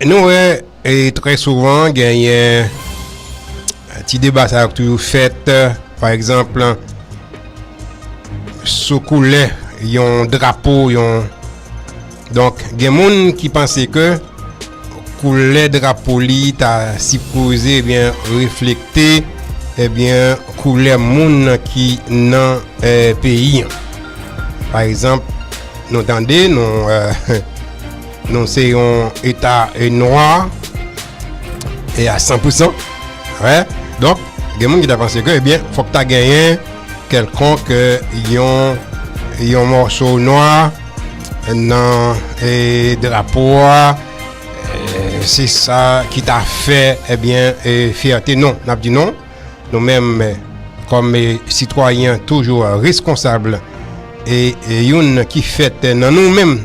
Nou wè e trè souvan genyen ti deba sa ak toujou fèt pa egzanp sou koulè yon drapo yon donk gen moun ki panse ke koulè drapo li ta si pose ebyen reflekte ebyen koulè moun ki nan peyi pa egzanp nou tande nou Nou se yon eta nwa e a 100%. Wè, donk, gen moun ki ta panse ke, ebyen, fòk ta genyen kèlkonk yon mòso nwa nan drapo a, se sa ki ta fè, ebyen, fyète. Non, n ap di non. Nou menm kòm sitwayen toujou reskonsab e youn ki fèt nan nou menm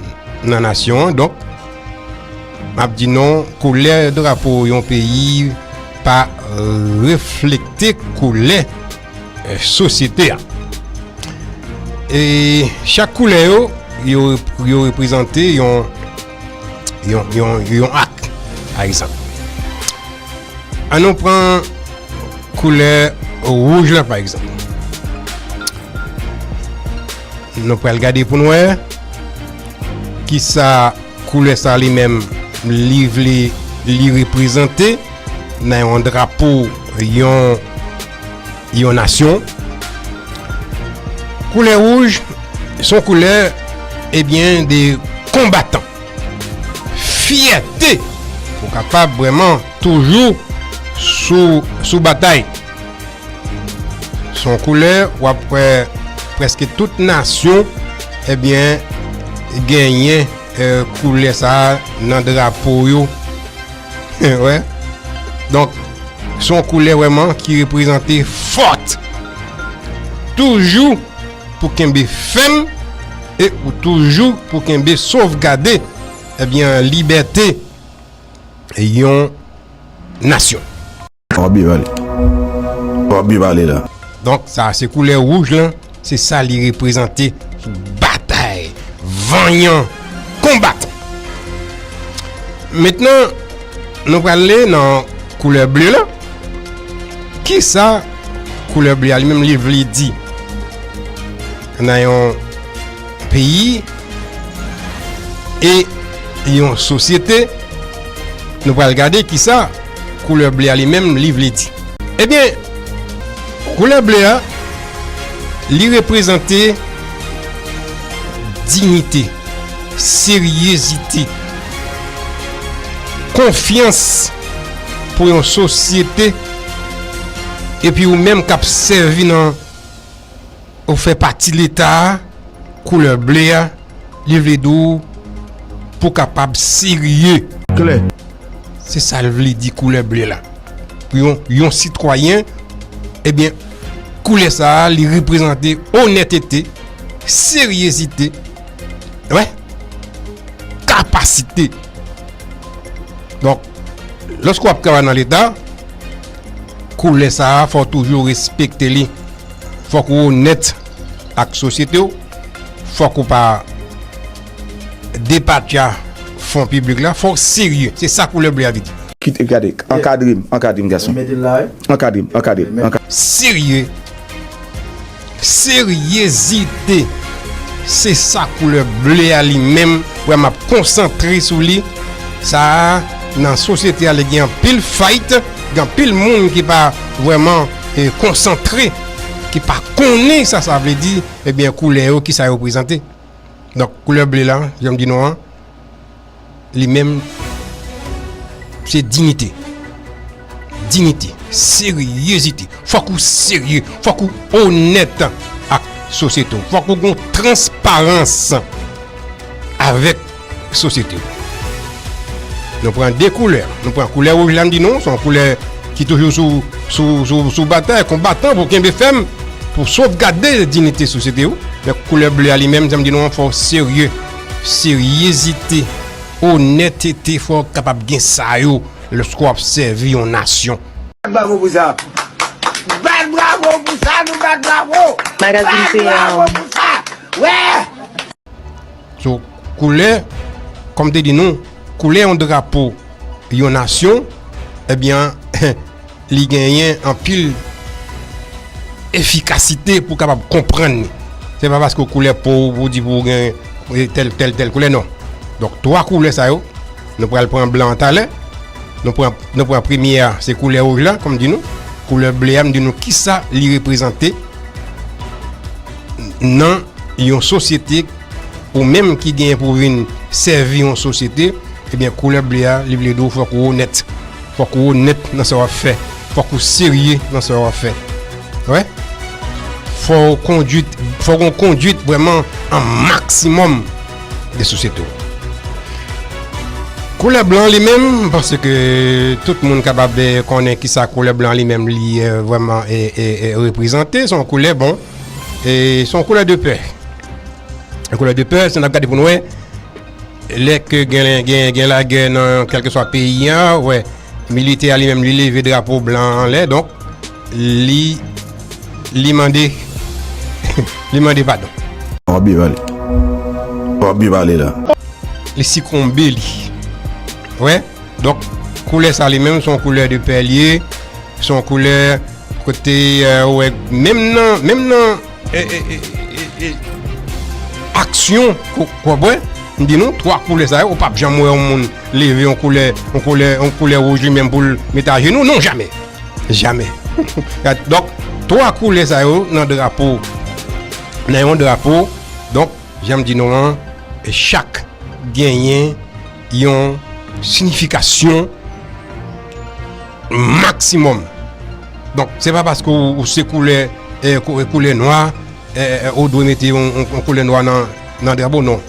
nan nasyon an donk m ap di nou koulè drapo yon peyi pa reflekte koulè sosyete a. E chak koulè yo yo reprezante yon yon ak pa egzanp an nou pran koulè wouj la pa egzanp nou pral gade pou nou e ki sa koulè sa li menm li vle li reprezante nan yon drapo yon yon nasyon. Koulè wouj son koulè ebyen eh de konbatan. Fiyate pou kapab breman toujou sou batay. Son koulè wap pre preske tout nasyon ebyen eh genyen eh, koulè sa nan drapo yo. Wè, donk, son koulè wèman ki reprezante fòt. Toujou pou kenbe fèm e ou toujou pou kenbe sovgade ebyen eh libète yon nasyon. Wap byen pale. Wap byen pale la. Donk sa se koulè wouj lan, se sa li reprezante sou batay vanyan konbatan. Mentnan nou prale nan koulè ble lan. Kisa koulè ble a li menm li vle di? Nan yon Peyi e yon sosyete, nou pral gade ki sa koulè ble a li menm li vle di. Ebyen, koulè ble a, li reprezante dignite, seryezite, konfyans pou yon sosyete epi ou menm k ap sèvi nan. Ou fè pati leta a, koulè ble a, li vle di w pou kapab serye. Klè. Se sa l vle di koulè ble la. Pou yon yon sitwayen, ebyen, koulè sa a li reprezante onètete, seryezite, wè, kapasite. Donk, lòske w ap travay nan leta, koulè sa a fò w toujou respekte li. Fòk ou onèt ak sosyete w, fòk ou pa depatcha fon piblik la, fòk ou serye. Se sa koulè ble a vle di. Kite, gade, ankadre m, ankadre m gason. Ankadre m, ankadre m, ankadre m. Serye, seryezite, se sa koulè ble a li menm, wè m ap konsantre sou li, sa a nan sosyete a li gen anpil fayt, gen anpil moun ki pa vrèman. konsantre, ki pa konnen sa sa vle di, ebyen koulè yo ki sa yo prezante. Donk koulè ble la, jan m di nou an, li menm se dinite. Dinite, seryezite. Fòk ou serye, fòk ou onèt ak sosyeto. Fòk ou gon transparans avèk. sosyete. Nou pran 2 koulè, nou pran koulè wouj la m di nou, se yon koulè ki toujou sou batay, konbatan pou kenbe fèm, pou sovgade dinite sosyete ou, men koulè ble a li menm, jan m di nou an, fò w serye, seryezite, onètete, fò w kapab gen sa yo, lèske w ap sèvi yon nasyon. Bat bravo pou sa! Bat bravo pou sa! Nou bat bravo! Bat bravo pou sa! Wè! So, koulè, kòm m te di nou, koulè yon drapo yon nasyon, ebyen, li genyen anpil efikasite pou kapab konprann li. Se pa paske koulè po ou pou di pou ou gen tèl, tèl, tèl koulè, non. Donk, 3 koulè sa yo, nou pral pran blan an talè, nou pran, nou pran premye a, se koulè wouj la, kòm m di nou, koulè ble a, m di nou kisa li reprezante. nan yon sosyete ou menm ki genyen pou vin sèvi yon sosyete ebyen koulè ble a li vle di ou fòk ou onèt fòk ou onèt nan sa wap fè fòk ou serye nan sa wap fè wè fò ou kondwit fò ou kondwit vwèman an maksimòm de sosyete ou koulè blan li menm panse ke tout moun kapab konnen kisa koulè blan li menm li vwèman e reprezante son koulè bon E son koulè de pè. Yon koulè de pè, se nan gade pou nou e. Lè ke gen la gè nan kelke swa peyi a, wè, milite a li menm li leve drapo blan an lè, donk, li, li mande, li mande padon. Wap byen pale. Wap byen pale la. Li sikonbe li. Wè. Donk koulè sa li menm son koulè de pè li ye, son koulè kote ou wè menm nan, menm nan aksyon kòbwè, m di nou 3 koulè sa yo ou pap janm wè yon moun leve yon koulè, yon koulè, yon koulè wouj li menm pou l met ajenou, non jamè, jamè. Donk 3 koulè sa yo nan drapo, nan yon drapo, donk janm di nou an chak genyen. yon sinifikasyon maksimòm. Donk, se pa paske ou se koulè koulè nwa, ou dwe mete yon koulè nwa nan drapo, non.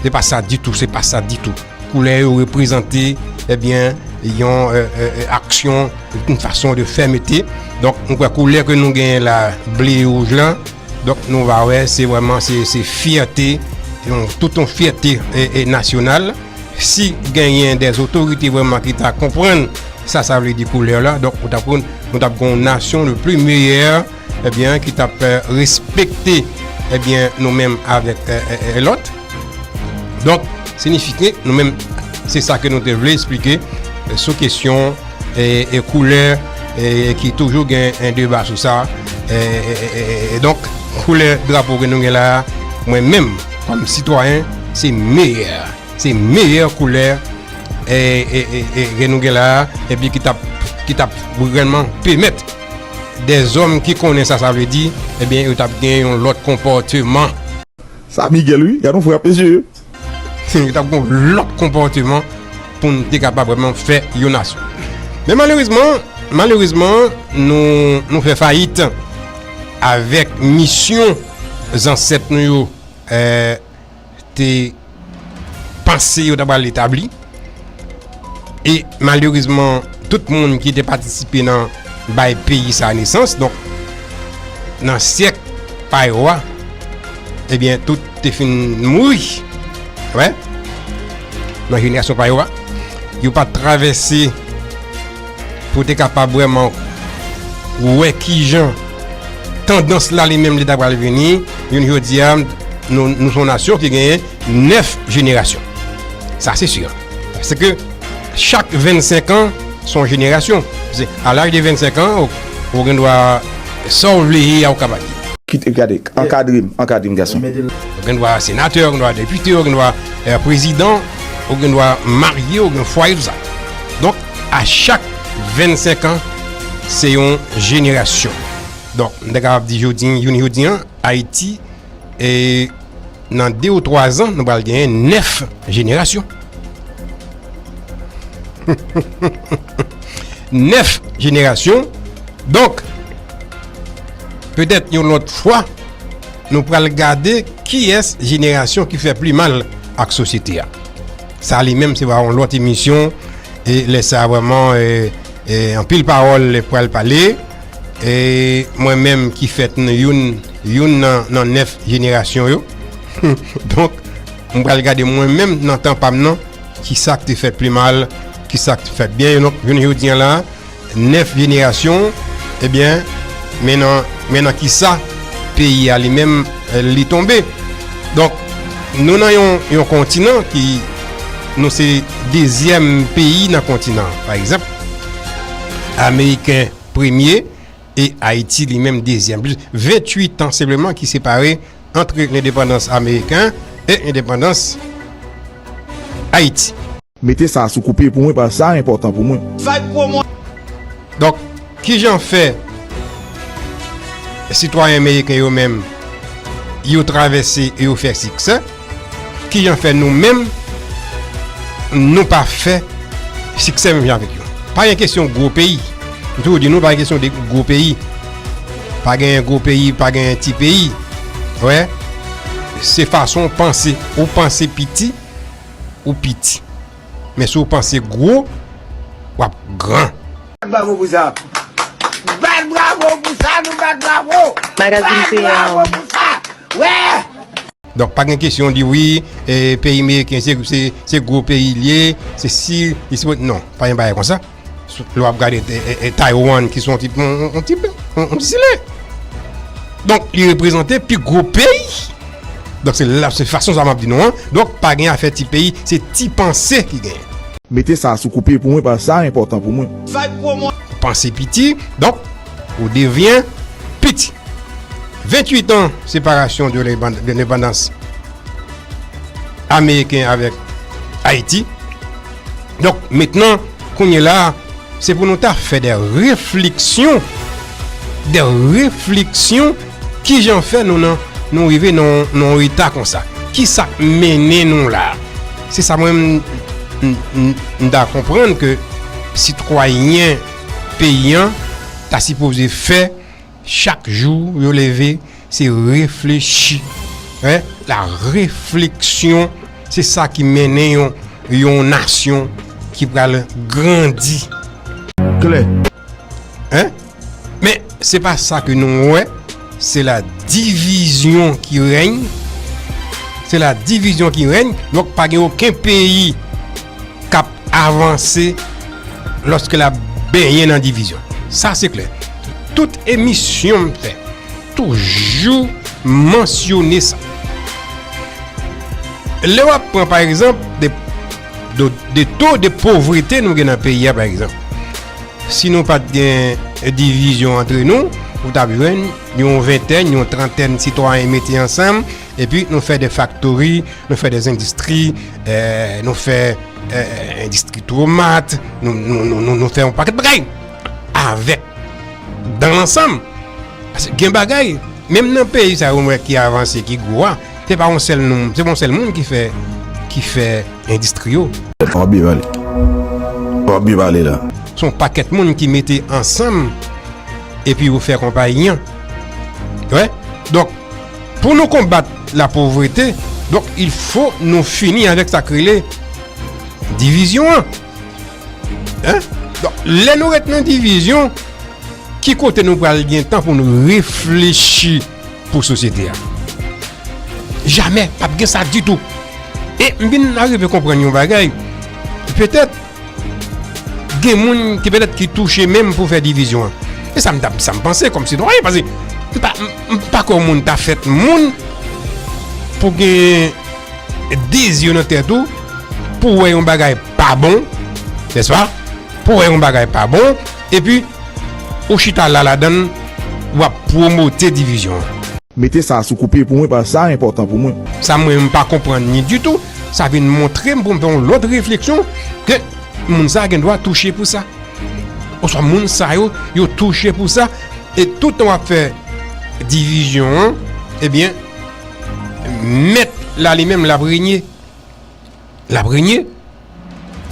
Se pa sa ditou, se pa sa ditou. Koulè yo reprezante, ebyen, eh yon euh, euh, euh, aksyon, yon fason de fè mete. Donk, mwen kwa koulè ke nou genyen la, ble e wouj la, Donk nou va wè se vwèman se fyète, tout yon fyète nasyonal. Si genyen de zotorite vwèman ki ta konprann sa sa vle di koulè la, donk ou ta konn nou ta pran yon nasyon le pli meyè, ebyen eh ki ta pè respekte ebyen eh nou menm avèk lòt. Donk, sinifike nou menm se sa ke nou te vle esplike sou kesyon. e koulè e ki toujou gen en deba sou sa e donk koulè drapo ke nou gen la mwen menm kom sitwayen se meyè se meyè koulè e ke nou gen la e pi ki tap ki tap vreman pemet de zom ki konnen sa sa vle di e byen yo tap gen yon lot konporteman. Sa Miguel wi, gad yon frape je. Se ta gon lòt konpòteman pou n te kapab vreman fè yon nasyon. Men malerezman, malerezman nou fè fayit avèk misyon zansèt nou yo te panse yo ta pral etabli. E malerezman, tout moun ki te patisipe nan bay peyi sa nesans, donk, nan syèk pa yo a, ebyen, tout te fin mouri. Wè? Nan jenerasyon pa yo a. Yo pa travèse pou te kapab wèman wè ki jan tandans la li menm li ta pral vini. Yon jodi a, nou son nasyon ki genyen. 9 jenerasyon. Sa se sur. Se ke chak 25 an son jenerasyon. Se a laj de 25 an ou gen dwa sa ou vle ye a ou ka pa ye. Kite gade, ankadre m, ankadre m gason. Ou gen dwa senatè, ou gen dwa depite, ou gen dwa prezidan, ou gen dwa marye, ou gen fwaye tout sa. Donk a chak 25 an se yon jenerasyon. Donk m ta kapab di jodi, jounen jodi an Ayiti e nan 2 ou 3 zan nou bal genyen 9 jenerasyon. 9 jenerasyon. Donk, petèt yon lòt fwa, nou pral gade ki es jenerasyon ki fè pli mal ak sosyete a. Sa li menm se va yon lòt emisyon e lè sa vèman e anpil pawòl pral pale e mwen menm ki fèt nou youn Youn nan 9 jenerasyon yo. Donk, m pral gade mwen menm nan tan pa m nan, ki sa k te fèt pi mal, ki sa k te fèt byen. Donk, jounen jodi an la, 9 jenerasyon, ebyen, men nan ki sa peyi a li menm li tonbe. Donk, nou nan yon kontinan ki, nou se dezyèm peyi nan kontinan. Pa egzanp, Ameriken premye. e Ayiti li menm dezyèm. 28 an senpleman ki separe antre lendepandans ameriken e lendepandans Ayiti. Mete sa sou koupe pou mwen paske sa enpòtan pou mwen. Donk, ki jan fè sitwayen meriken yo menm yo travèse e yo fè siksè? Ki jan fè nou menm nou pa fè siksè menm jan avèk yo? Pa gen kesyon gwo peyi. M toujou di nou pa gen kesyon de gwo peyi. Pa gen gwo peyi, pa gen ti peyi. Wè, se fason ou panse. Ou panse piti, ou piti. Men si ou panse gwo, w ap gran. Bat bravo pou sa! Bat bravo pou sa! Nou bat bravo! Magazine peyant! Bat bravo pou sa! Wè! Donk pa gen kesyon di wi peyi meriken se gwo peyi li ye, se si li si non, pa gen bagay konsa. Lè w ap gade Taiwan ki se yon ti zile. Donk li reprezante pi gwo peyi. Donk se la se fason sa m ap di nou an. Donk pa gen afè ti peyi, se ti panse ki gen. Mete sa sou koupe pou mwen paske sa enpòtan pou mwen. Panse piti, donk. Ou devyen piti. 28 an separasyon de lendepandans Ameriken avèk Ayiti. Donk, mentnan, kounye la, se pou nou ta fè de refleksyon, de refleksyon ki jan fè nou nan nou rive nan reta kon sa. Ki sa mennen nou la? Se sa mwen m da konprann ke sitwayen Peyi an ta sipoze fè chak jou yo leve se reflechi. La refleksyon se sa ki mennen yon nasyon ki pral grandi. Klè. Men se pa sa ke nou wè, se la divizyon ki reny. Se la divizyon ki reny. Donk pa gen oken peyi kap. avanse lòske l ap benyen nan divizyon. Sa se klè. Tout emisyon m fè toujou mansyone sa. Lè w ap pran pa egzanp de to de povrete nou gen nan peyi a pa egzanp. Si nou pat gen divizyon antre nou, ou t ap jwenn yon ventèn, yon trantèn sitwayen mete ansanm, Epi nou fè de faktori, nou fè de zendistri, nou fè endistri tomat, nou fè yon paket bagay. Avèk, dan lansam, gen bagay, menm nan peyi sa yon mwen ki avanse, ki gwo a, se pa yon sèl nou, se pa yon sèl moun ki fè, ki fè endistri yo. Wap byen pale. Wap byen pale la. Se yon paket moun ki mete ansanm, epi yo fè konpayi an. Wè? Donk. Pou nou konbat la povrete, donk il fo nou fini avèk sa k rele divizyon an. Donk, lè nou ret nan divizyon, ki kote nou pral gen tan pou nou reflechi pou sosyete a? Jamè, pa p gen sa ditou. E m vin arive konprann yon bagay, petèt, Gen moun ki petèt ki touche menm pou fè divizyon an. E sa m ta sa m panse kòm sitwayen pase m pa m pa kwè yon moun ta fèt moun pou gen de zye nan tèt ou pou wè yon bagay pa bon, nèspa? Pou wè yon bagay pa bon epi ou chita la ladan l w ap pwomote divizyon an. Mete sa sou koupe pou mwen paske sa enpòtan pou mwen. Sa mwen m pa konprann ni ditou sa vin montre m pou m fè yon lòt refleksyon ke moun sa gen dwa touche pou sa. Oswa moun sa yo, yo touche pou sa e toutan w ap fè divizyon an, ebyen mèt la li menm l ap renye. L ap renye.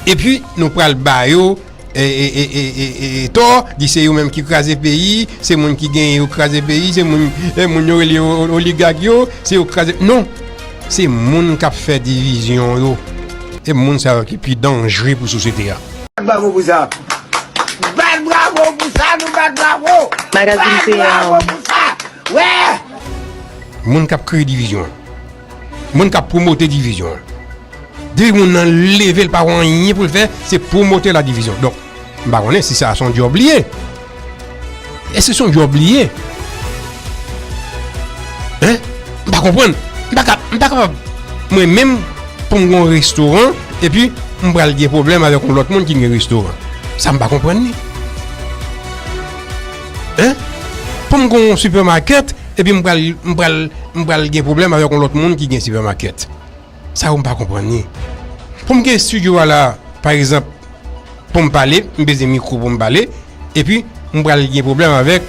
Epi nou pral ba yo. e tò, di se yo menm ki kraze peyi, se moun ki genyen yo kraze peyi, se moun yo rele oligag yo, se yo kraze, non, se moun kap fè divizyon yo, e moun sa yo ki pi danjre pou sosyete a. Bat bravo pou sa! Bat bravo pou sa! Nou bat bravo! Bat bravo pou sa! Wè! Moun kap kreye divizyon. Moun kap promote divizyon. Depi moun nan leve l pa wè anyen pou l fè, se promote la divizyon. Donk, m pa konnen si sa son djòb li ye. Èske son djòb li ye? Hein? M pa konprann. M pa ka, m pa kapab mwen menm pou m gen yon restoran epi m pral gen pwoblèm avèk yon lòt moun ki gen restoran. Sa m pa konprann li. Hein? Pou m gen yon supermarket. Epi m pral m pral m pral gen pwoblèm avèk yon lòt moun ki gen sipèmakèt. Sa yo m pa konprann ni. Pou m gen estidyo a la pa egzanp pou m pale, m bezwen mikwo pou m pale epi m pral gen pwoblèm avèk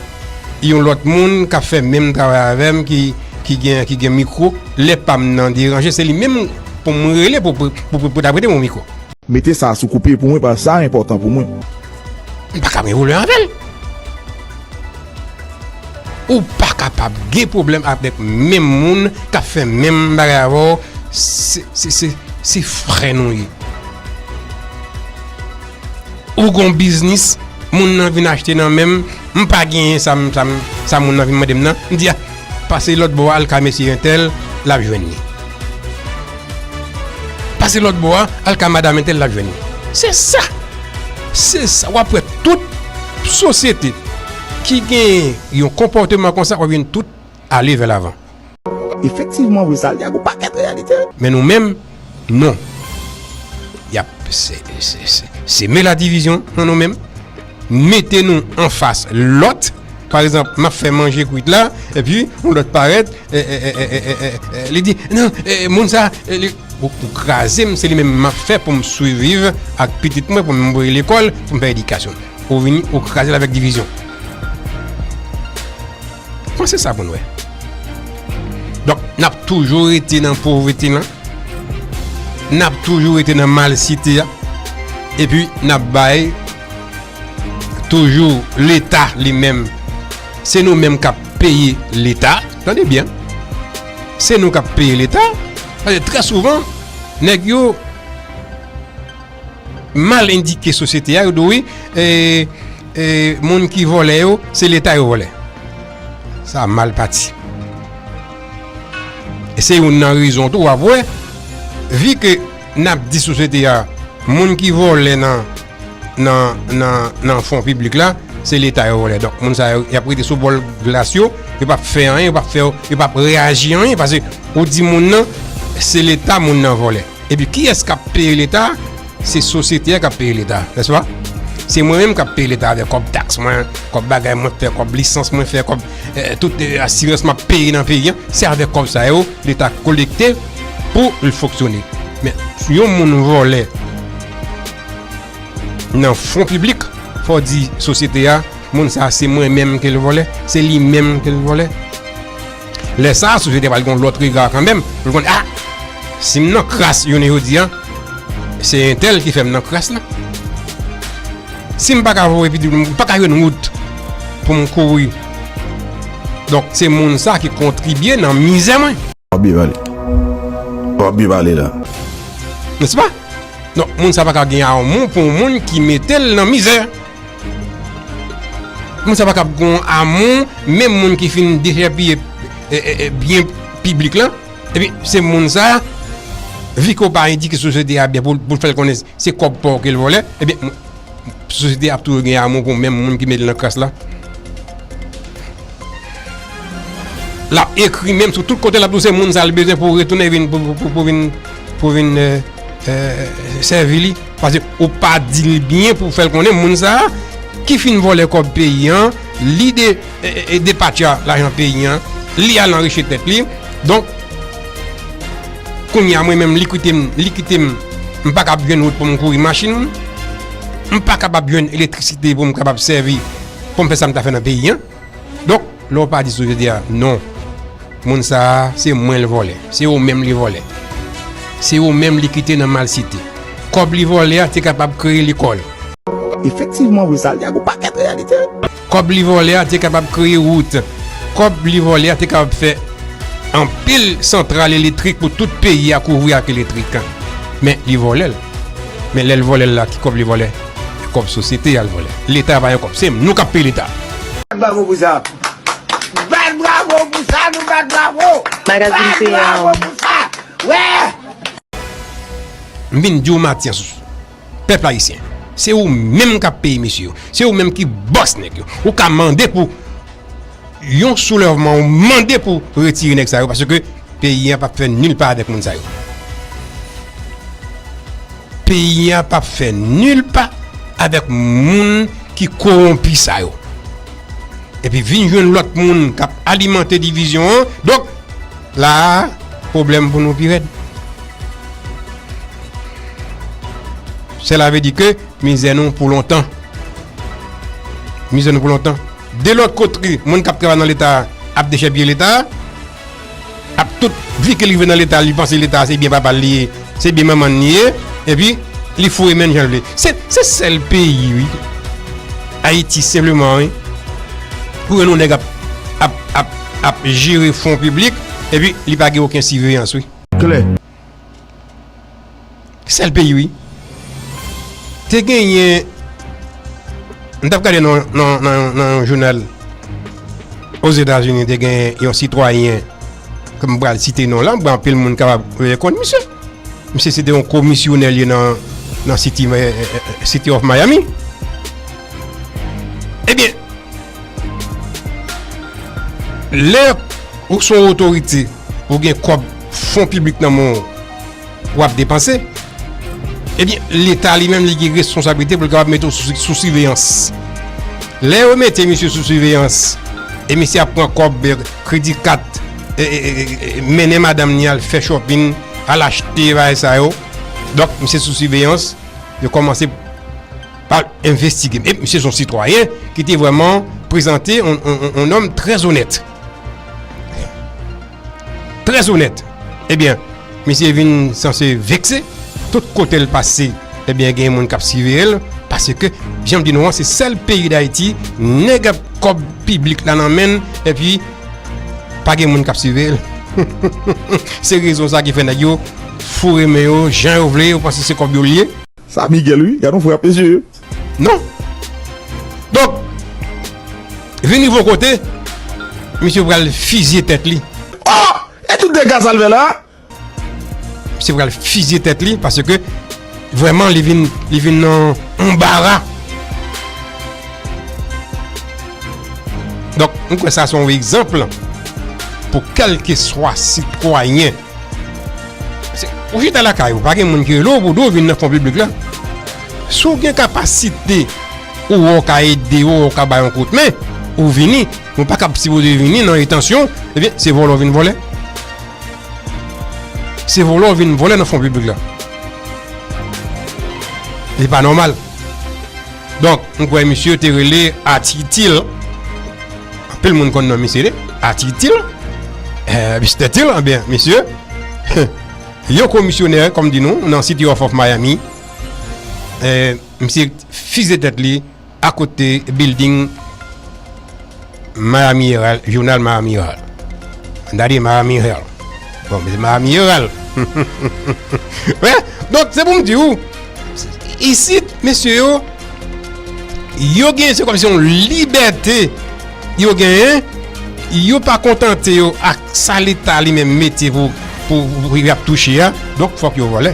yon lòt moun k ap fè menm travay avè m ki ki gen ki gen mikwo lè pa m nan deranje se li menm pou m rele pou pou ta prete m yon mikwo. Mete sa sou koupe pou mwen pask sa enpòtan pou mwen. M paka men rouleur avèl. Ou pa kapab gen pwoblèm avèk menm moun kap fè menm bagay avèw se frè nou ye. Ou gon biznis moun nan vin achte nan menm m pa genyen sa moun nan vin mandem nan m di a Pase lòt bò a al ka mesye entèl lap jwenn li. Pase lòt bò a al ka madam entèl lap jwenn li. Se sa! Se sa! Wap wè tout sosyete ki gen yon konpòteman konsa wap jwenn tout ale vè lavan. Efektivman vre sa li ak yon pakèt reyalite. Men nou menm. Non. Y ap seme ladivizyon nan nou menm, mete nou anfas lòt. Pa egzanp, m ap fè manje kwit la, epi yon lòt parèt, li di, non, moun sa a, li pou kraze m, se li menm m ap fè pou m siviv ak pitit mwen, pou m voye l lekòl, pou m fè edikasyon l. Ou vini, ou kraze l avèk divizyon. Kman se sa pou n wè? Donk, n ap toujou rete nan povrete lan, n ap toujou rete nan malsite a, epi n ap bay toujou Leta li menm, se nou menm k ap peye Leta, tande byen, se nou k ap peye Leta, paske trè souvan, nèg yo. Mal endike sosyete a yo do wi moun ki vòlè yo se leta yo vòlè sa mal pati e se yon nan rezon tou wap wè vi ke nap di sosyete a moun ki vòlè nan nan fon piblik la se leta yo vòlè donk moun sa yo yap rete sou bòl glas yo yo pap fè anyen yo pap reyaji anyen pase ou di moun nan se leta moun nan vòlè. Epi kiyès kap peye leta? Se sosyete a kap peye leta, n'est-ce pas? Se mwen menm kap peye leta avèk kòb taks mwen, kòb bagay mwen fè, kòb lisans mwen fè, kòb tout asirans map peye nan peyi a, se avèk kòb sa yo leta kolekte pou l fonksyone. Men, si yon moun vòlè nan fon piblik, fò w di sosyete a, moun sa se mwen menm ke l vòlè, se li menm ke l vòlè. Lè sa a, sosyete pral gen yon lòt rega kanmenm, pou l konn, a, si m nan kras jounen jodi a, se entèl ki fè m nan kras la. Si m pa ka voye pitit m, m pa ka jwenn wout pou m kouri. Donk, se moun sa a ki kontribye nan mizè mwen. Wap byen pale. Wap byen pale la. Nèspa? Donk, moun sa a pa ka gen amou pou yon moun ki mete l nan mizè. Moun sa pa kab gon amou menm moun ki fin dechèpiye byen piblik lan epi se moun sa viko pa endike sosyete a byen pou l fè l konnen se kòb pa w ke l vòlè epi sosyete a ap toujou gen amou pou menm moun ki met l nan kras la l ap ekri menm sou tout kote l ap di w se moun sa l bezwen pou retounen vin pou vin sèvi li. Pase ou pa dil byen pou fèl konnen moun sa ki fin vòlè kòb peyi an li depatcha lajan peyi an li al anrichi tèt li donk kounya mwen menm li kitem li kitem m pa kab jwenn wout pou m kouri machin m pa kapab jwenn elektrisite pou m kapab sèvi pou m fè sa m ta fè nan peyi an. Donk, lè w pa di sou jodi a, non, moun sa a, se mwen l vòlè, se ou menm li vòlè, se ou menm li kite nan malsite, kòb li vòlè a te kapab kreye lekòl. Efektivman vre, sa li a gen yon pakèt reyalite. Kòb li vòlè a te kapab kreye wout. Kòb li vòlè a te kapab fè anpil santral elektrik pou tout peyi a kouvri ak elektrik. Men, li vòlè l. Men, lè l vòlè l la, ki kòb li vòlè? Kob sosyete yal vòlè. Leta pa yon kob sem nou kap peye leta. Bat bravo pou sa. Bat bravo pou sa nou bat bravo. Bat bravo pou sa. Wè. M vin diw Matyas pèp ayisyen se ou menm kap peye mesye yo se ou menm ki bòs nèg yo ou ka mande pou Yon soulèvman ou mande pou retire nèg sa yo paske peyi an pap fè nil pa avèk moun sa yo. Peyi an pap fè nil pa avèk moun ki kowonpi sa yo. Epi vin jwenn lòt moun kap alimante divizyon an. Donk la pwoblèm pou nou pi rèd. Sela ve di ke mizè nou pou lontan. Mizè nou pou lontan. De lòt kotre, moun k ap travay nan Leta a ap dechèpiye Leta a. Ak tout vi ke l rive nan Leta a, li panse Leta a se byen papa l li ye, se byen manman l li ye. Epi, li foure men l jan l vle. Se sèl peyi wi, Ayiti senpleman wi, pou wè yon nèg ap jere fon piblik, epi li pa gen oken siveyans wi. Klè. Sèl peyi wi. Te genyen m tap gade nan yon jounal Ozetazini te genyen yon sitwayen ke m pral site non la, bon anpil moun kapab rekonn misye. Misye se te yon komisyonè li nan City of Miami. Ebyen, lè ou son otorite ou gen kòb fon piblik nan men w, w ap depanse, ebyen leta li menm li gen responsablite pou l kapab mete w sou siveyans. Lè yo mete misye sou siveyans, e misye ap pran kòb kredi kat, mennen madanm ni al fè chòpin, al achte bagay sa yo, donk misye sou siveyans, yo kòmanse pa l envestige. E misye son sitwayen ki te vwèman prezante yon nonm trè zonèt. Très onèt Ebyen misye vin sanse vekse Tout kote l pase ebyen gen moun k ap siveye l Paske jan m di nou an se sèl peyi dayiti Nèg ap kòb piblik la nan men l Epi pa gen moun k ap siveye l Se rezon sa ki fè nèg yo foure men yo jan yo vle Yo panse se kòb yo l ye Sa Miguel wi gadon frap mesye. Non Donk vin rive yon kote misye pral fizye tèt li. Oh! E tout dega sa l fè la? Misye pral fizye tèt li paske vrèman li vin li vin nan yon anbara. Donk m kwè sa se yon egzanp pou kèlkeswa sitwayen. Ou chita lakay ou, pa gen moun ki rele w pou di w vin nan fon piblik la. Si w gen kapasite ou wè w ka ede yo, ou ka ba yon kout men, ou vini. Men w pa ka sipoze vini nan entansyon, ebyen se vòlè w vin vòlè. Se vòlè w vin vòlè nan fon piblik la. Li pa nòmal. Donk, m kwè misye te rele Atitil. Anpil moun konn non misye. Atitil. Mister Til, anben, misye. Yon komisyonè, kòm di nou, nan City of of Miami. Misye fize tèt li akote building. Miami Herald, jounal Miami Herald. Dade Miami Herald. Bon, men se Miami Herald. Wè, donk se pou m di ou, isit, mesye yo, yo gen se komisyon libète yo gen, yo pa kontante yo ak sa leta li men mete pou pou y ap touche a, donk fòk yo vòlè.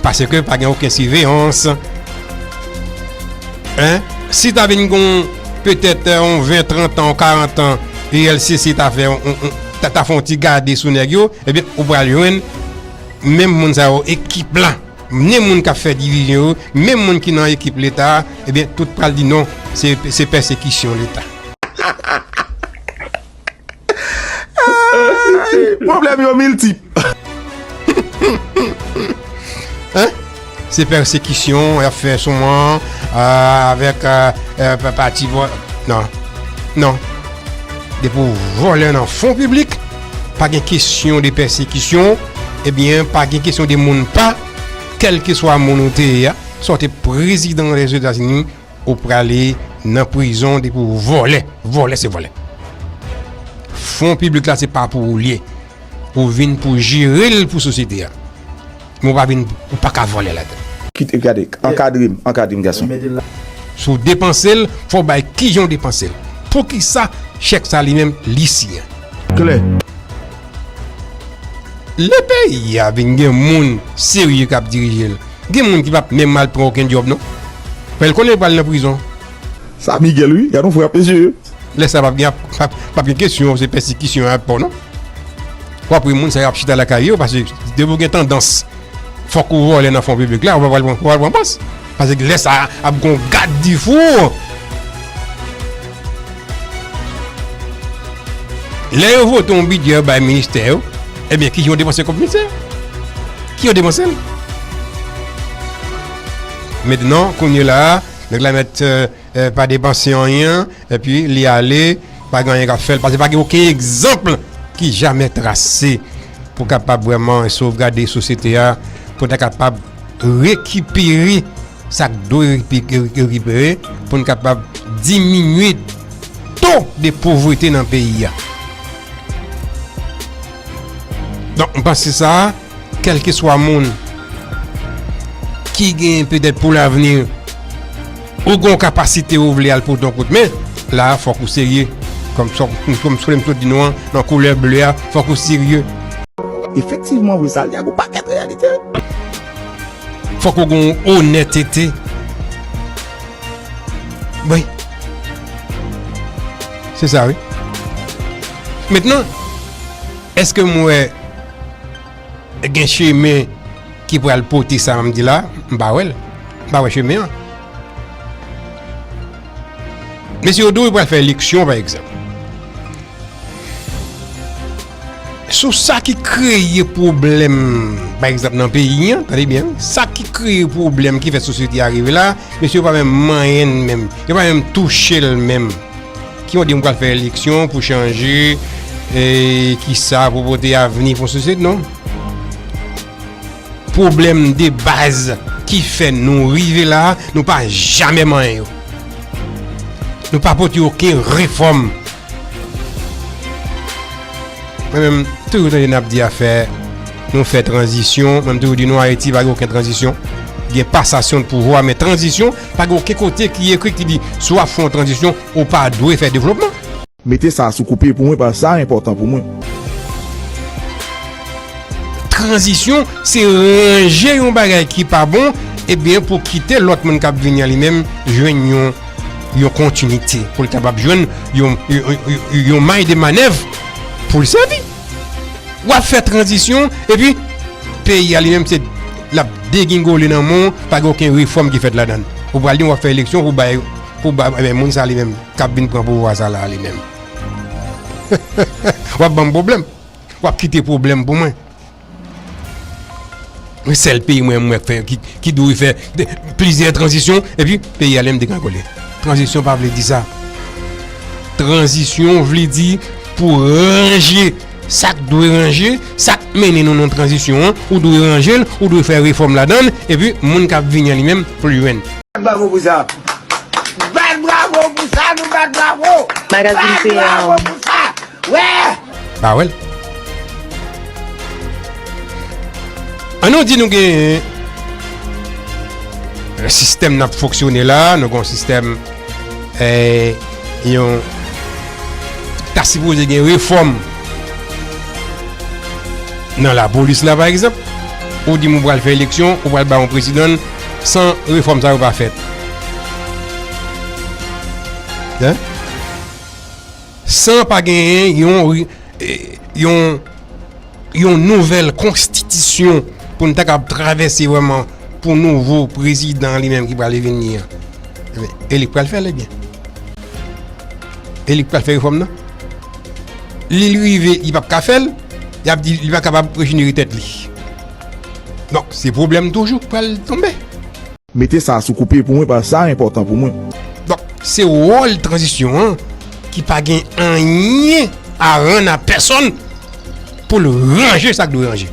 Paske pa gen oken siveyans. Hein? Si ta vin gon petèt on 20, 30 an, 40 an, ULCC ta fè on, ta fè on ti gade sou nèg yo, ebyen ou pral jwenn menm moun sa yo, ekip la, menm moun k ap fè divizyon yo, menm moun ki nan ekip Leta a, ebyen tout pral di non, se pèsekisyon Leta. Pwoblèm yo miltip. Se pèsekisyon y ap fè sou mwen avèk pati vòlè. Non. Non. Depi ou vòlè nan fon piblik, pa gen kesyon de pèsekisyon, ebyen eh pa gen kesyon de moun pa, kèlkeswa moun ou te ye a, swa ou te prezidan Lèzetazini, Ou prale nan prizon depi ou vòlè. Vòlè se vòlè. Fon piblik la se pa pou ou liye. Ou vin pou jere l pou sosyete a. Men ou pa vin, ou pa ka vòlè ladann. Kite, gade, ankadre m, ankadre m gason. Si w depanse l, fò w bay kijan w depanse l. Poukisa chèk sa li menm li siyen. Klè. Le peyi a vin gen moun serye kap dirije l gen moun ki pap menm al pran oken djob non fè l konnen yo pral nan prizon. Sa Miguel wi, gadon frap mesye. Lè sa pap gen pap gen kesyon se pèsikisyon yap fè w non wap wè moun sa yo ap chita lakay yo pase depi w gen tandans fòk ou vòlè nan fon piblik la ou pa pral pran pòs. Paske lè sa a ap gon gad di four. Lè yo vote yon bidjè yo bay ministè yo, ebyen kijan yo depanse kòb ministè yo? Ki yo depanse l? Mentnan, kounye la a, nèg la mèt. pa depanse anyen epi li ale pa gen anyen kap fèl pase pa gen oken egzanp ki jamè trase pou kapab vreman sovgade sosyete a pou ta kapab rekipere sak dwe rekipere pou n kapab diminye to de povrete nan peyi a donk m panse sa kèlkeswa moun ki gen petèt pou lavni ou gon kapasite ou vle al pote yon kout men la a fòk ou serye kòm sa m sot di nou an nan koulè ble a fòk ou serye Efektivman vre sa li a gon pakèt reyalite Fòk ou gon onètete Wi Se sa wi Mentnan Eske m wè gen chemen ki pral pote sa m di la? M pa wè l. M pa wè chemen an. Mesye yo di w yo pral fè eleksyon pa egzanp. Sou sa ki kreye pwoblèm pa egzanp nan peyi an, tande byen, sa ki kreye pwoblèm ki fè sosyete a rive la, mesye yo pa menm manyen l menm. Yo pa menm touche l menm. Ki yon dim pral fè eleksyon pou chanje ki sa pou pote avni pou sosyete non. Pwoblèm de baz ki fè nou rive la, nou pa jamè manyen yo. Nou pa pote yo ke refòm. Mwen menm, tou yon tande nap di a fè, nou fè tranzisyon, mwen tou yon di nou a eti pa gen yon tranzisyon. Gen pasasyon de pouvwa, men tranzisyon. Pa gen oken kote ki ekri ki di si w ap fè yon tranzisyon ou pa dwe fè devlopman. Mete sa sou koupe pou mwen paske sa enpòtan pou mwen. Tranzisyon se ranje yon bagay ki pa bon ebyen pou kite lòt moun k ap vini an li menm jwenn yon kontinite pou l kapab jwenn yon may de manèv pou l sèvi. Wap fè tranzisyon epi peyi a li menm se lap degingole nan men w pa gen oken refòm ki fèt ladan l. Ou pral di m wap fè eleksyon pou bay pou bay men moun sa li menm kap vin pran pouvwa sa la li menm wap ban m pwoblèm wap kite pwoblèm pou mwen. Mwen sèl peyi mwen mwen fè ki dwe fè plizyè tranzisyon epi peyi a li menm degranngole. Tranzisyon pa vle di sa. Tranzisyon vle di pou ranje sa k dwe ranje, sa k mennen nou nan tranzisyon an, ou dwe ranje l, ou dwe fè refòm ladan l epi moun k ap vini an li menm pou l jwenn. Bat bravo pou sa! Bat bravo pou sa! Nou bat bravo! Bat bravo pou sa! Wè! Ba wè l. An nou di nou gen yon sistèm n ap fonksyone la, nou gen yon sistèm yon ta sipoze gen refòm nan lapolis la pa egzanp, ou di m ou pral fè eleksyon, ou pral ba yon prezidan san refòm sa yo pa fèt. San pa genyen yon nouvèl konstitisyon pou n ta kab travèse vwèman pou nouvo prezidan li menm ki pral vin ni an. E li pral fè l ebyen. E li pral fè refòm nan. Li li rive li pap ka fè l, y ap di li pa kapab rejini tèt li. Donk se pwoblèm toujou k pral tonbe. Mete sa sou koupe pou mwen pask sa enpòtan pou mwen. Donk se wòl tranzisyon an ki pa gen anyen a rann a pèsonn pou l ranje sa k dwe ranje.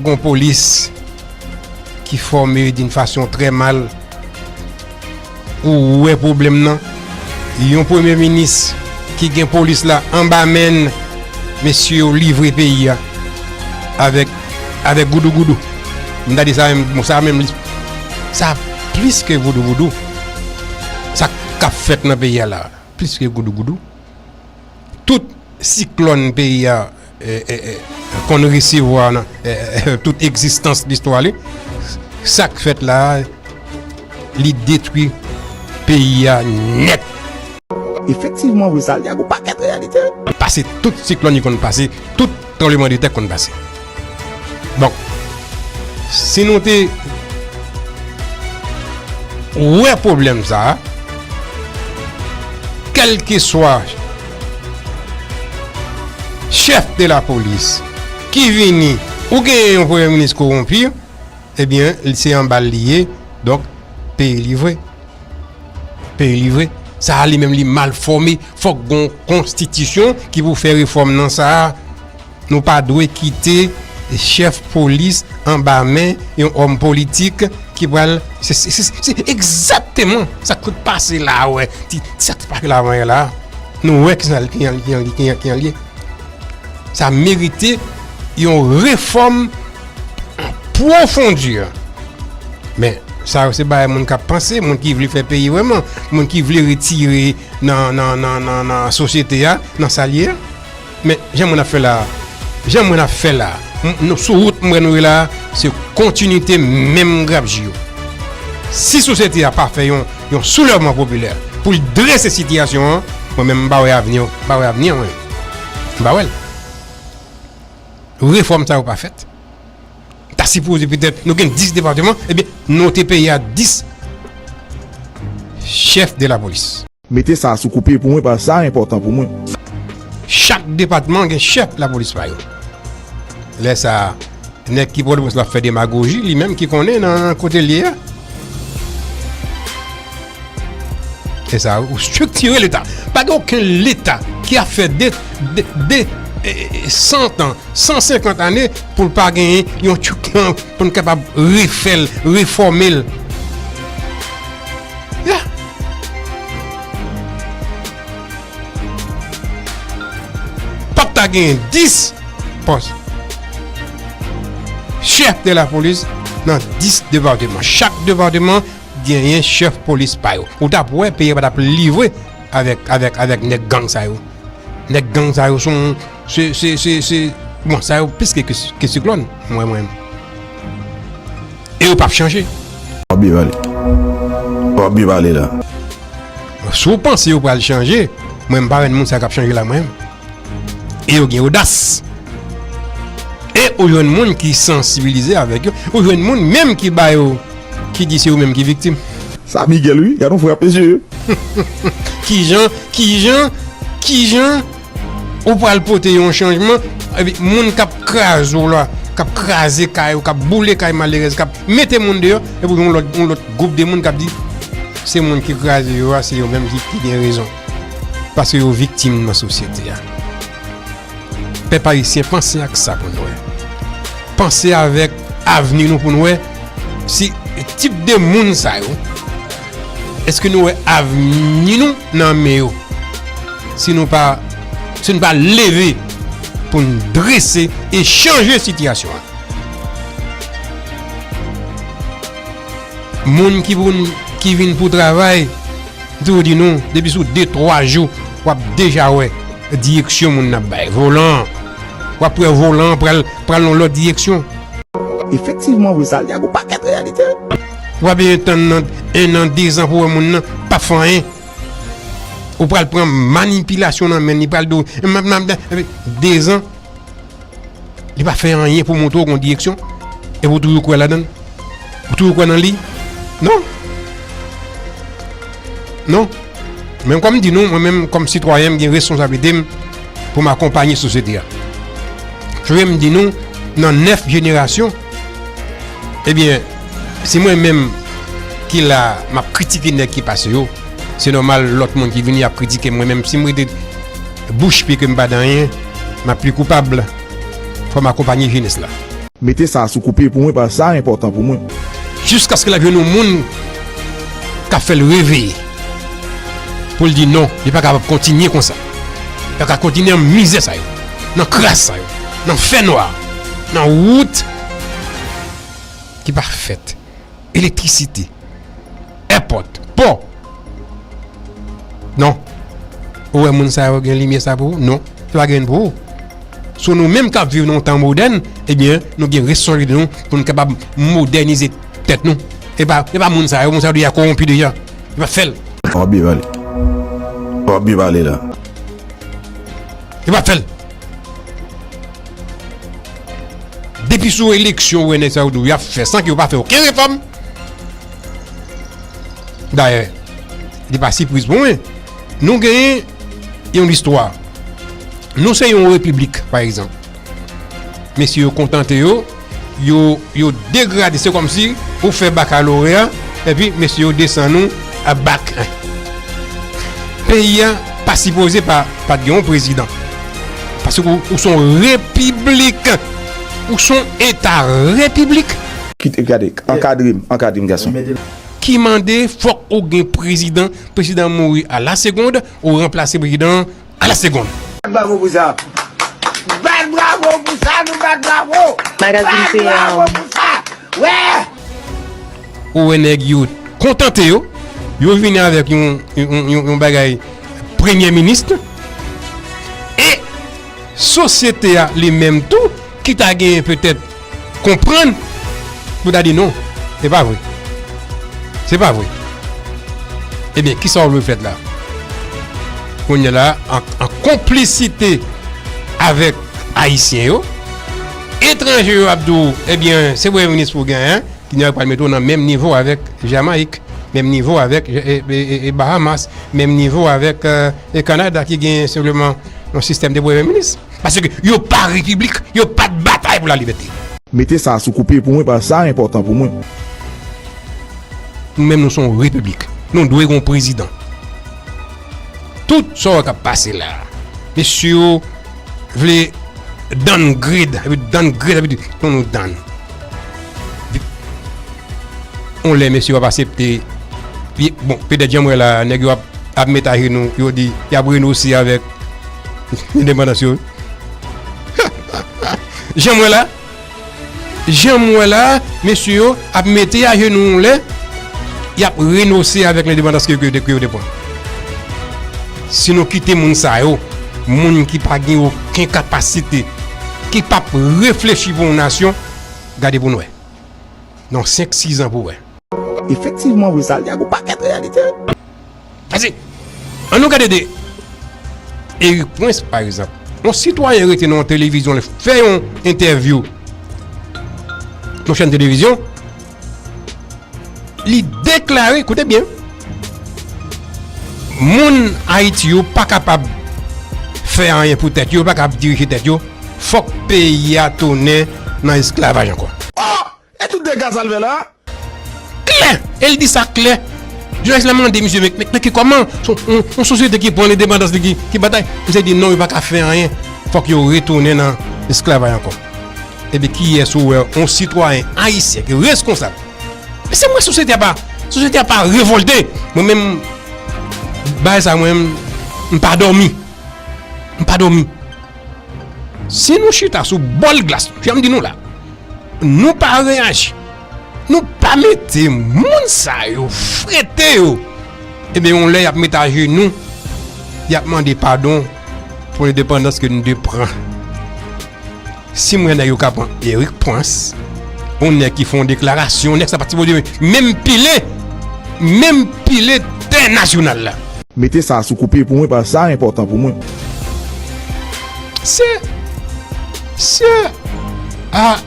Gon polis ki fòme doun fason trè mal. Ou wè pwoblèm nan? Yon premye minis ki gen polis la anba menn, mesye yo livre peyi a avèk avèk goudougoudou. M ta di sa menm, bon sa menm li sa plis ke voudouvoudou sa kap fèt nan peyi a la a plis ke goudougoudou. Tout siklòn peyi a konn resevwa nan tout egzistans listwa li, sa k fèt la a, li detwi peyi a nèt. Efektivman wi, sa li a gwo pakèt reyalite. Pase tout siklòn li konn pase, tout. Tranbleman de tè konn pase. Bon. Si nou te. Wè pwoblèm sa. Kelke swa. Chèf de la polis. Ki vini. Ou gen yon premye minis koronpi. Ebyen li se yon bal liye. Donk peyi livre. Peye li vre. Sa a li menm li mal fòme. Fòk gon konstitisyon ki pou fè refòm nan sa a. Nou pa dwe kite chèf polis anba men yon òm politik ki pral. Se egzakteman sa k sot pase la a. Sa k te pase la avan la a. Nou wè ki jan li ye. Sa merite yon refòm. Apwofondi an. Men, sa yo se bay moun kap panse, moun ki vle fè peyi wèman, moun ki vle retire nan sosyete a, nan sa li a. Men, jan moun ap fè la, jan moun ap fè la, nou sou wout mwen nou e la, se kontinite menm grap ji yo. Si sosyete a pa fè yon soulèvman popilè pou l drese sitiyasyon an, mwen menm m pa wè avni an mwen. M pa wè l. refòm sa yo pa fèt ta sipoze petèt nou gen 10 depateman ebyen nou te peye a 10 chèf de la polis. Mete sa sou koupe pou mwen pa sa enpòtan pou mwen. Chak depatman gen chèf la polis pa yo. Lè sa a nèg ki pòtoprens la ap fè demagoji li menm ki konnen nan kote l ye a. Se sa ou struktire leta. Pa gen oken leta ki ap fè 2, 2, 100 an, 150 ane pou l pa gen yon tchouk nan pou n kapab refè l, refòme l. Ya! Pa p ta gen 10 pòs chèf de la polis nan 10 depateman. Chak depateman genyen chef polis pa yo ou tap wè peyi a patap livre avèk avèk avèk nèg gang sa yo nèg gang sa yo son se se se se bon sa yo plis ke ke siklòn mwen mwen e yo pap chanje. Wap byen pale Wap byen pale la. Si w panse yo pral chanje, mwen m pa wè moun sa yo k ap chanje la mwen. E yo gen odas. E ou jwenn moun ki sansibilize avèk yo. Ou jwenn moun menm ki ba yo, ki di se yo menm ki viktim. Sa Miguel wi, gad yon frape je. Kijan, kijan, kijan ou pral pote yon chanjman, epi moun kap kraze w la, kap kraze kay ou, kap boule kay malerèz, kap mete moun deyò, epi yon lòt, yon lòt gwoup de moun kap di se moun ki kraze yo a, se yo menm ki gen rezon. paske yo viktim nan sosyete a. Pèp ayisyen panse ak sa pou n wè. Panse avèk avni nou pou n wè si tip de moun sa yo, eske nou wè avni nou nan men yo. Si nou pa si nou pa leve pou n drese e chanje sitiyasyon an. Moun ki pou n ki vin pou travay. M toujou di nou, depi sou de twa jou, w ap deja wè direksyon moun nan ap bay. Volan an, w ap wè volan an pral nan yon lòt direksyon. Efektivman wi, sa li ak yon pakèt reyalite wi. W ap bezwen tann nan ennan, dezan pou w wè moun nan p ap fè anyen. Ou pral pran manipilasyon nan men li, li pral di w, m ap, m ap, m ap, dezan. Li pa fè anyen pou montre w yon direksyon. Epi ou toujou kwè ladan l? Ou toujou kwè nan li? Non! Non! Men kòm m di nou, mwen menm kòm sitwayen m gen reskonsablite m pou m akonpanye sosyete a. Frè m di nou nan 9 jenerasyon, ebyen si mwen menm ki la m ap kritike nèg ki pase yo, se nòmal lòt moun ki vini ap kritike m mwen menm si m rete. Bouch pi ke m pa danyen m ap pi koupab Fò m akonpanye jenès la. Mete sa a sou koupe pou mwen paske sa a enpòtan pou mwen. Jiskaske l ap jwenn yon moun k ap fè l reveye pou l di non li pa kapab kontinye konsa pa ka kontinye nan mizè sa yo nan kras sa yo nan fènwa nan wout ki pa fèt. elektrisite, èpòt, pò. Non. Ou wè moun sa yo gen limyè sa pou ou? Non. Yo pa gen pou ou. Sou nou menm k ap viv nan yon tan modèn, ebyen, nou gen responsabilite nou pou nou kapab modènize tèt nou. E pa e pa moun sa yo. Moun sa yo deja kowonpi deja. Yo pa fè l. Wap byen pale. Wap byen pale la. Yo pa fèl. Depi sou eleksyon ou wè nèg sa yo di w y ap fè san ke yo pa fè oken refòm. Dayè, li pa sipriz pou mwen. Nou genyen yon listwa. Nou se yon repiblik pa egzanp. Mesye yo kontante yo. Yo yo degrade se komsi ou fè bakaloreya epi mesye yo desann ou a bak 1 peyi a pa sipoze pa pat gen yon prezidan paske ou son repiblik ou son eta repiblik. Kite gade ankadre m ankadre m gason. Ki mande fok ou gen prezidan prezidan mouri a la segonde ou ranplase prezidan an. A la seconde. Bat bravo pou sa. Bat bravo pou sa nou bat bravo. Magazine Bat bravo pou sa. Wè. Ou wè nèg yo kontante yo. Yo vini avèk yon bagay premye minist. E sosyete a li menm tou ki ta gen petèt. Konprann pou ta di non, se pa vre. Se pa vre. Ebyen, ki sa ou vle fèt la? Kounye la, an konplisite avèk Ayisyen yo, etranje yo ap di ou, ebyen, se premye minis pou genyen, ki nou ap mete ou nan menm nivo avèk Jamayik, menm nivo avèk Bahamas, menm nivo avèk Kanada ki genyen senpleman yon sistèm de premye minis. Paske yo pa repiblik, yo pa t batay pou la libète. Mete sa a sou koupe pou mwen paske sa a enpòtan pou mwen. Nou menm nou se yon repiblik. Nou dwe gen yon prezidan. Tout sa yo k ap pase la a, mesye yo vle downgrade, epi downgrade epi di nou nou down. Yon lè mesye yo ap asepte, bon petèt jan m wè la a, nèg yo ap met ajenou, yo di y ap renose avèk. Indepandans yo wi. Jan m wè la, jan m wè la, mesye yo ap mete ajenou yon lè, y ap renose avèk lendepandans ke yo te pran. Si nou kite moun sa yo, moun ki pa gen oken kapasite, ki p ap reflechi pou yon nasyon, gade pou n wè. Nan senk sizan pou wè. Efektivman wi, sa li a gwo pakèt reyalite. Pase, an nou gade de Eric Prince pa egzanp. Yon sitwayen rete nan yon televizyon li fè yon entèvyou yon chèn televizyon, li deklare, koute byen, moun Ayiti yo pa kapab fè anyen pou tèt yo, yo pa kapab dirije tèt yo, fòk peyi a tounen nan esklavaj ankò. E tout dega sal fe la? Klè! E li di sa klè! Jounalist la mande misye men nan ki koman yon sosyete ki pran lendepandans li ki batay? Misye di non yo pa ka fè anyen fok yo retounen nan esklavay anko. Ebyen kiyes ou wè yon sitwayen ayisyen ki reskonsab? Men se mwen sosyete a pa sosyete a pa revolte! Mwen menm bagay sa mwen m pa domi! M pa domi! Si nou chita sou bol glas, jan m di nou la. Nou pa reyaji. Nou pa mete moun sa yo frete yo. Ebyen yon lè y ap met ajenou. Y ap mande padon pou endepandans ke nou te pran. Si mwen nèg yo ka pran Erik Prince, yon nèg ki fon deklarasyon, nèg sa pati pou dimen, menm pile, menm pile tè nasyonal la. Mete sa sou koupe pou mwen paske sa enpòtan pou mwen. Se. Sè a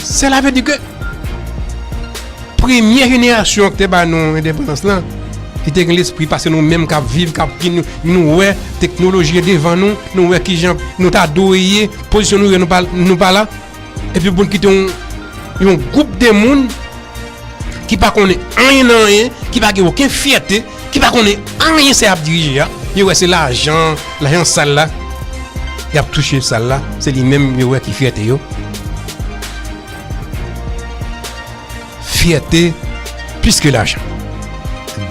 sè la vle di ke premye jenerasyon ki te ba nou endepandans lan li te gen lespri pase nou menm kap viv kap ki nou wè teknoloji e devan nou nou wè kijan nou ta dwe ye pozisyon nou ye nou pa la epi pou nou kite yon gwoup de moun ki pa konnen anyen nan anyen ki pa gen oken fyète ki pa konnen anyen sa yap dirije a yo wè se lajan lajan sal la yap touche sal la se li menm yo wè ki fyète yo fyète plis ke lajan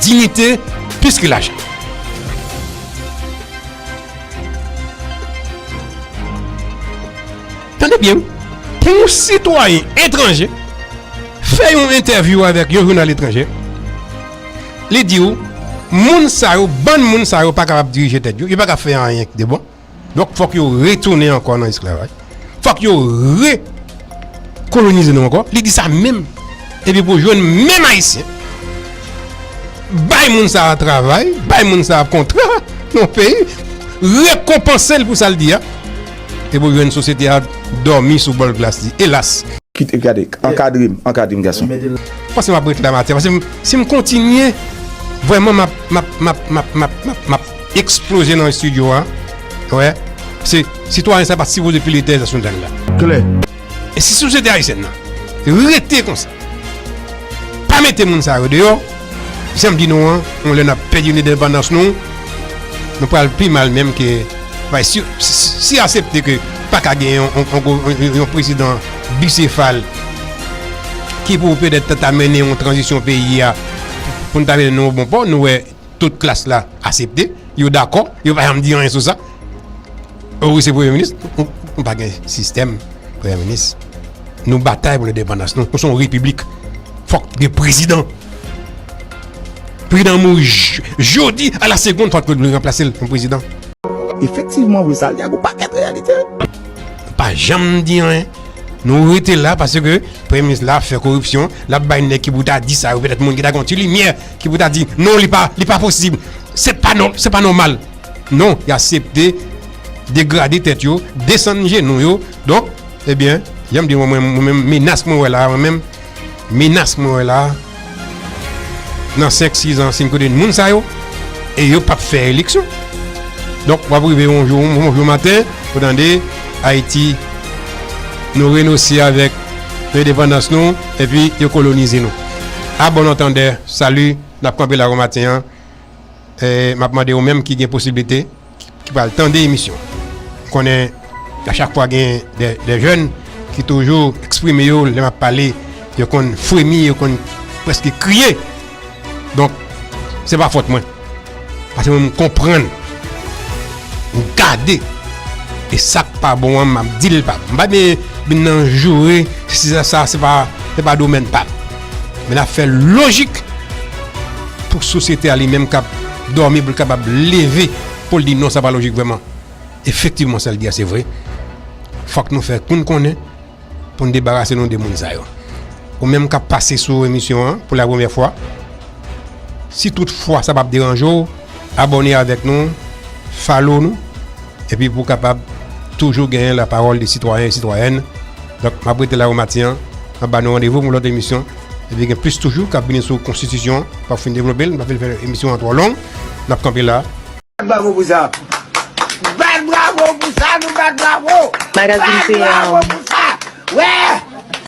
dinite plis ke lajan tande byen wi pou yon sitwayen etranje fè yon entèvyou avèk yon jounal etranje Li di w, moun sa yo, bann moun sa yo pa kapab dirije tèt yo, yo pa ka fè anyen ki de bon. Donk fòk yo retounen ankò nan esklavaj. Fòk yo rekolonize nou ankò. Li di sa menm. Epi pou jwenn menm Ayisyen, bay moun sa a travay, bay moun sa a kontra nan peyi, rekonpanse l pou sa l di a. Epi pou jwenn sosyete a dòmi sou bòl glas li. Elas! Kit, gade, ankadre m, ankadre m gason. M panse m ap ret la maten paske si m kontinye vrèman m ap m ap m ap m ap m ap m ap m ap eksploze nan estidyo a wè se sitwayen sa pa t sipoze pile tè sou nèg la klè e si sosyete ayisyèn nan rete konsa pa mete moun sa yo deyò jan m di nou an yon lè n ap pèdi lendepandans nou nou pral pi mal menm ke bay si si asepte ke pa ka gen yon yon prezidan bisefal. ki pou pèdèt ta ta mennen yon tranzisyon peyi a pou n ta mennen nan yon bon pò nou wè tout klas la asepte yo dakò yo pa janm di anyen sou sa ou se premye minis nou pa gen sistèm premye minis nou batay pou ledepandas nou nou son repiblik fòk gen prezidan prezidan mou jodi a la segonn fòk nou remplase l pou prezidan efektivman vre sa l di a gou paket reyalite pa janm di anyen Nou rete la paske premye minis la ap fè koripsyon, l ap bay nèg ki pou ta di sa yo petèt moun ki ta gen yon ti limyè ki pou ta di non li pa posib, se pa nòmal. Non, y asepte degrade tèt yo, desann jenou yo donk ebyen jan m di mwen menm menas mwen wè la mwen menm. Menas mwen wè la a, nan 5, 6 ans, si n konnen moun sa yo, e yo pap fè eleksyon. Donk, w ap rive yon jou, yon jou maten, ou tande, Ayiti, nou renose avèk endepandans nou, epi yo kolonize nou. A bon antandè, salut, n ap kanpe la pou maten an. M ap mande ou menm ki gen posiblite, ki pral tande emisyon. M konnen a chak fwa gen de jèn ki toujou eksprime yo lè m ap pale yo konn fremi, yo konn prèske kriye. Donk, se pa fòt mwen. Pase mwen m konprann, m gade e sa k pa bon an m ap di l pa bon. M pa byen vin nan joure, se sa se pa domèn pa m. Men ap fè lojik pou sosyete a li menm kap dòmi pou l kapab leve pou l di non sa pa lojik vrèman. Efektivman sa l di a se vre. Fòk nou fè kou n konnen pou n debarase nou de moun sa yo. Ou menm kap pase sou emisyon an pou la premyè fwa, si tout fwa sa pap deranje w, Abòne avèk nou, follow nou epi pou w kapab toujou genyen la pawòl de sitwayen e sitwayèn. Donk m ap rete la ou maten an, m ap ba nou randevou pou yon lòt emisyon epi gen plis toujou k ap vini sou konstitisyon an. M pa fin devlope l, m pa vle fè emisyon an twò long. N ap kanpe la. Bat bravo pou sa! Bat bravo pou sa! Nou bat bravo! Bat bravo pou sa! Wè!